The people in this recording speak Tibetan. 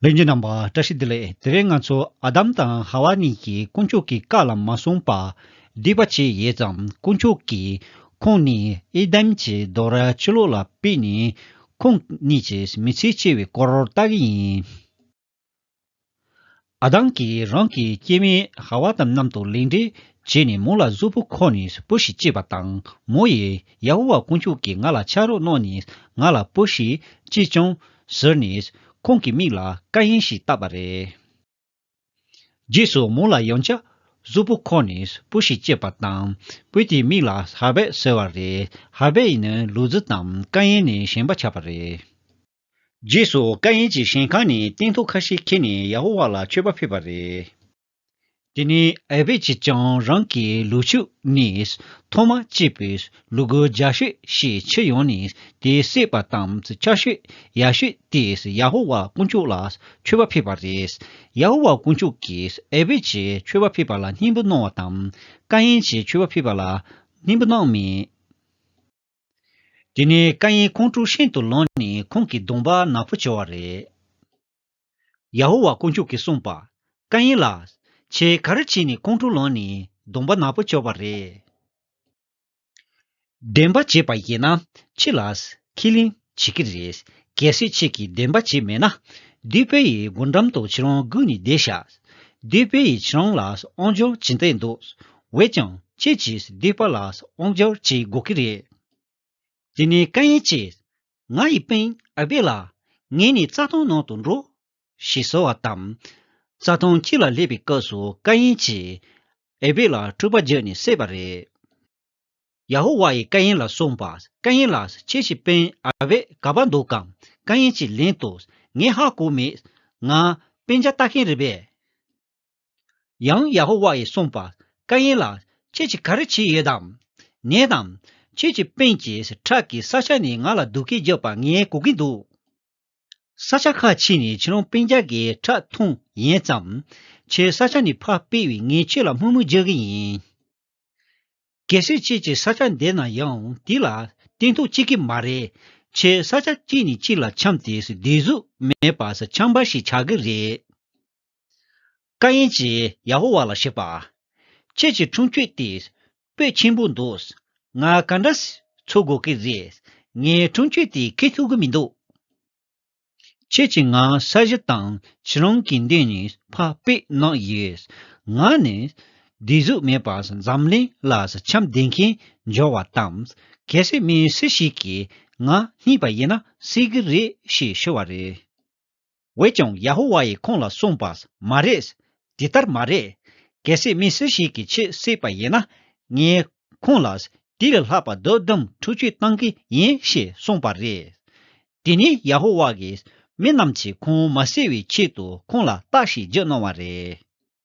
གླིང་རྒྱུ་རྣམས་པ་བཀྲ་ཤིས་བདེ་ལེགས་དེ་རིང་ང་ཚོ་ཨ་དམ་དང་ཧ་ཝཱ་གཉིས་ཀྱིས་དཀོན་མཆོག་གི་བཀའ་ལ་མ་བསྲུངས་པར་སྡིག་པ་བྱས་ཡོད་ཙང་དཀོན་མཆོག་གིས་ཁོང་གཉིས་ཨེ་དམ་གྱི་རྡོག་ར་ཕྱི་ལོགས་ལ་སྤེལ་ནས་ཁོང་གཉིས་ཀྱི་མི་ཚེ་བསྐྱེལ་བའི་སྐོར་བལྟ་གི་ཡིན། ཨ་ཐང་གིས་རང་གི་སྐྱེ་དམན་ཧ་ཝ་དམ་རྣམས་དང་ལེགས་འབྲེལ་བྱས་ནས་མོ་ལ་གཟུགས་པོ་ཁོ་ནས་སྤུ་ཞིག་བཅད་པ་དང་མོ་ཡིས་ཡ་ཧོ་ཝཱ་དཀོན་མཆོག་གིས་ང་ལ་ཕྱག་རོགས་གནང་ནས་ང་ལ་སྤུ་ཞིག་བཅད་བྱུང་ཟེར་ནས་ཁོང་གི་མིག་ལ་བཀའ་ཡན་ཞིག་བཏབ་པ་རེད། རྗེས་སུ་མོ་ལ་ཡང་བྱ། གཟུགས་པོ་ཁོ་ནས་སྤུ་ཞིག་བཅད་པ་དང་སྤུས་དེའི་མིག་ལ་ཧར་བེད་ཟེར་བ་རེད་ཧར་བེད་ནི་ལུག་རྫི་དང་བཀའ་ཡན་ནས་གཞན་པ་ཆགས་པ་རེད། རྗེས་སུ་ཀ་ཡན་གྱི་ཞིང་ཁང་ནས་སྟན་ཐོག་ཁ་ཤས་འཁྱེར་ནས་ཡ་ཧོ་ཝཱ་ལ་མཆོད་པ་ཕུལ་བ་རེད། དེ་ནས་ཨེ་བེད་ཀྱིས་ཀྱང་རང་གི་ལུག་ཕྱུགས་ནས་ཐོག་མ་སྐྱེས་པའི་ལུག་གུ་རྒྱ་ཤོས་ཤིག་ཁྱེར་ཡོང་ནས་དེའི་བསྲེགས་པ་དང་ཆར་ཞོད་ཡར་ཞོས་ཏེ་ཡ་ཧོ་ཝཱ་དཀོན་མཆོག་ལ་མཆོད་པ་ཕུལ་བ་རེད། ཡ་ཧོ་ཝཱ་དཀོན་མཆོག་གིས་ཨེ་བེད་ཀྱི་མཆོད་པ་ཕུལ་བ་ལ་སྙིང་པོ་གནང་བ་དང་ཀ་ཡན་གྱི་མཆོད་པ་ཕུལ་བ་ལ་སྙིང་པོ་གནང་མེད། དེ་ནས་བཀའ་ཡན་ཁོང་ཁྲོ་ཤིན་ཏུ་ལངས་ནས་ཁོང་གི་གདོང་པགས་ནག་པོ་བྱེ་བ་རེད། ཡ་ཧོ་ཝཱ་དཀོན་མཆོག་གིས་གསུངས་པ། བཀའ་ཡན་ལགས། ཁྱེད་ག་རེ་བྱས་ནས་ཁོང་ཁྲོ་ལངས་ནས་གདོང་པགས་ནག་པོ་བྱེ་བ་རེད། བདེན་པ་བྱས་པ་ཡིན་ན་ཁྱི་ལགས། ཁྱི་གླིང། བྱེད་ཀྱི་རེད། གལ་སྲིད་ཁྱེད་ཀྱིས་བདེན་པ་བྱས་མེད་ན། བདུད་དཔལ་ཡི་སྒོ་འགྲམ་དུ་ཁྱེད་རང་སྒུག་ནས་བསྡད་བཞག། བདུད་དཔལ་ཡིས་ཁྱེད་རང་ལ་དབང་སྒྱུར་བྱེད་འདོད་འདུག་འོད་ཀྱང་ཁྱེད་ཀྱིས་བདུད་དཔལ་ལ་དབང་སྒྱུར་བྱེད་དགོས་ཀྱི་རེད། དེ་ནས་ཀ་ཡན་གྱིས། ང་ཡི་དཔོན་ཨ་སྦེད་ལགས། ངས་ནི་རྩྭ་ཐང་ནང་དུ་འགྲོ། ཞེས་གསོལ་བ་བཏབ། རྩྭ་ཐང་ཁྱི་ལ་སླེབས་པའི་སྐབས་སུ་ཀ་ཡན་གྱིས། ཨེ་སྦེད་ལགས་སྤྲུལ་པ་བརྒྱུད་ནས་བསད་པ་རེད། ཡ་ཧོ་ཝཱ་ཡིས་ཀ་ཡིན་ལ་གསུངས་པ། ཀ་ཡིན་ལ། ཁྱེད་ཀྱི་དཔོན་ཨ་བྷེད་ག་པར་འདུག་གམ། ཀ་ཡིན་གྱིས་ལན་དུ། ངས་ཧ་གོ་མེད། ང། དཔོན་ཇ་ལྟ་མཁན་རེད་པས། ཡང་ཡ་ཧོ་ཝཱ་ཡིས་གསུངས་པ། ཀ་ཡིན་ལ། ཁྱེད་ཀྱིས་ག་རེ་བྱས་ཡོད་དམ། ངས་དང། ཁྱེད་ཀྱི་དཔོན་གྱིས་ཁྲག་གིས་ས་ཆ་ནས་ང་ལ་དུག་སྐད་རྒྱག་པ་ངས་གོ་གིན་འདུག། ས་ཆ་ཁ་ཕྱེ་ནས་ཁྱེད་རང་དཔོན་ཇ་གའི་ཁྲག་འཐུང་ཡས་ཙམ། ཁྱེད་ས་ཆ་ནས་ཕར་སྤེལ་བས་ངས་ཁྱེད་ལ་དམུ་དམུ་རྒྱག་གི་ཡིན། གལ་སྲིད་ཁྱེད་ཀྱིས་ས་ཆ་འདེད་ན་ཡང་དེ་ལ་བརྟན་ཐུག་ཅིག་གི་མ་རེད། ཁྱེད་ས་ཆ་གཅིག་ནས་གཅིག་ལ་འཁྱམས་ཏེ་བདེ་གཟུགས་མེད་པར་འཁྱམས་པ་ཞིག་ཆགས་ཀྱི་རེད། ཀ་ཡན་གྱིས་ཡ་ཧོ་ཝཱ་ལ་བཤད་པ། ཁྱེད་ཀྱི་འཁྲུངས་ཁྱོད་དེ་སྤོས་ཆེན་པོ་འདུག་ང་ག་འདྲ་འཚོལ་དགོས་ཀྱི་རེད། ངའི་འཁྲུངས་ཁྱོད་དེ་ཁས་ཐུག་གི་མི་འདུག། ཁྱེད་ཀྱི་ང་ས་གཞི་དང་ཁྱེད་རང་གི་འདི་གཉིས་ཕ་དཔེ་གནང་ཡོད། ང་ནི་བདེ་གཟུགས་མེད་པ་འཛམ་གླིང་ལ་འཆམ་ལྡན་མཁན་འབྱོར་བ་དང་གལ་སྲིད་མི་སུ་ཞིག་གིས་ང་རྙེད་པ་ཡིན་ན་སྲིད་གི་རེད་ཞེས་ཤོད་བ་རེད། འོས་ཀྱང་ཡ་ཧོ་ཝཱ་ཡིས་ཁོང་ལ་གསུངས་པ་མ་རེད། དེ་ལྟར་མ་རེད། གལ་སྲིད་མི་སུ་ཞིག་གིས་ཁྱེད་སྲིད་པ་ཡིན་ན་ངས་ཁོང་ལ་དེ་ལས་ལྷག་པ་རྡོ་དུམ་ཁྲུ་བཅུ་གཏང་གི་ཡིན་ཞེས་གསུངས་པ་རེད། དེ་ནས་ཡ་ཧོ་ཝཱ་གིས་མི་རྣམས་ཀྱིས་ཁོང་མ་བསད་བའི་ཆེད་དུ་ཁོང་ལ་རྟགས་ཤིག་བགྱིད་གནང་བ་རེད།